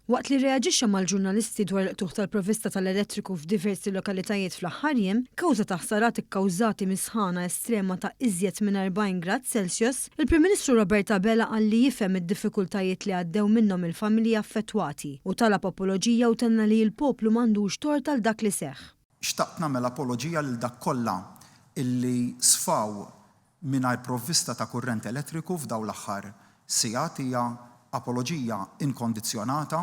Waqt li rreaġixxa mal-ġurnalisti dwar il-qtugħ tal-provvista tal-elettriku f'diversi lokalitajiet fl-aħħar jiem, kawża ta' ħsarat ikkawżati mis-sħana estrema ta' iżjed minn 40 grad Celsius, il-Prim Ministru Robert Abela qal li jifhem id-diffikultajiet li għaddew minnhom il-familji affettwati u talab apoloġija u tenna li l-poplu m'għandux tort għal dak li seħħ. Xtaqt nagħmel apoloġija lil dak kollha illi sfaw mingħajr provvista ta' kurrent elettriku f'dawn l-aħħar sigħat hija apoloġija inkondizzjonata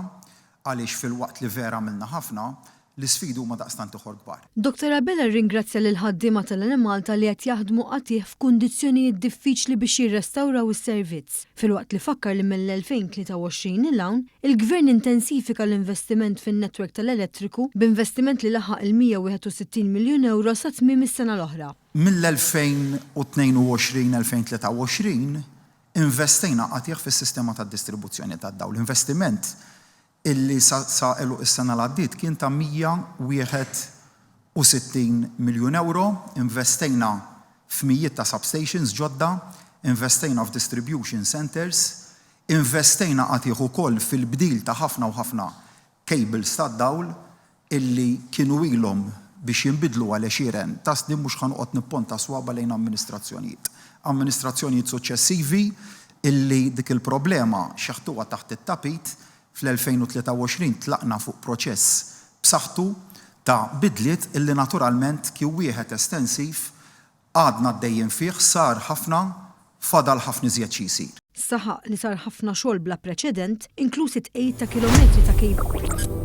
għaliex filwaqt li vera għamilna ħafna, l-isfidi huma daqstant ieħor kbar. Dottor Abela rringrazzja lill-ħaddiema tal-Enemalta li qed jaħdmu qatigħ f'kundizzjonijiet diffiċli biex jirrestawraw is-servizz. filwaqt li fakkar li mill-2023 'l hawn, il-Gvern intensifika l-investiment fin-netwerk tal-elettriku b'investiment li laħaq il-161 miljun ewro sa tmiem is-sena l-oħra. Mill-2022-2023 investejna qatigħ fis-sistema tad-distribuzzjoni tad-dawl, investiment illi sa għeluq is-sena li għaddiet kien ta' 161 miljun ewro, investejna f'mijiet ta' substations ġodda, investejna f'distribution centres, investejna qatigħ ukoll fil-bdil ta' ħafna u ħafna cables tad-dawl, illi kienu ilhom biex jinbidlu għal għexieren ta' snin mhux ħa noqgħod nipponta s-swaba' lejn amministrazzjonijiet. Amministrazzjonijiet suċċessivi illi dik il-problema xeħtuha taħt it-tapit, fl-2023 tlaqna fuq proċess b'saħħtu ta' bidliet illi naturalment kien wieħed estensiv, Għadna għaddejjin fih, sar ħafna, fadal ħafna iżjed xi jsir. Saħaq li sar ħafna xogħol bla preċedent, inkluż it-tqegħid ta' kilometri ta' cable.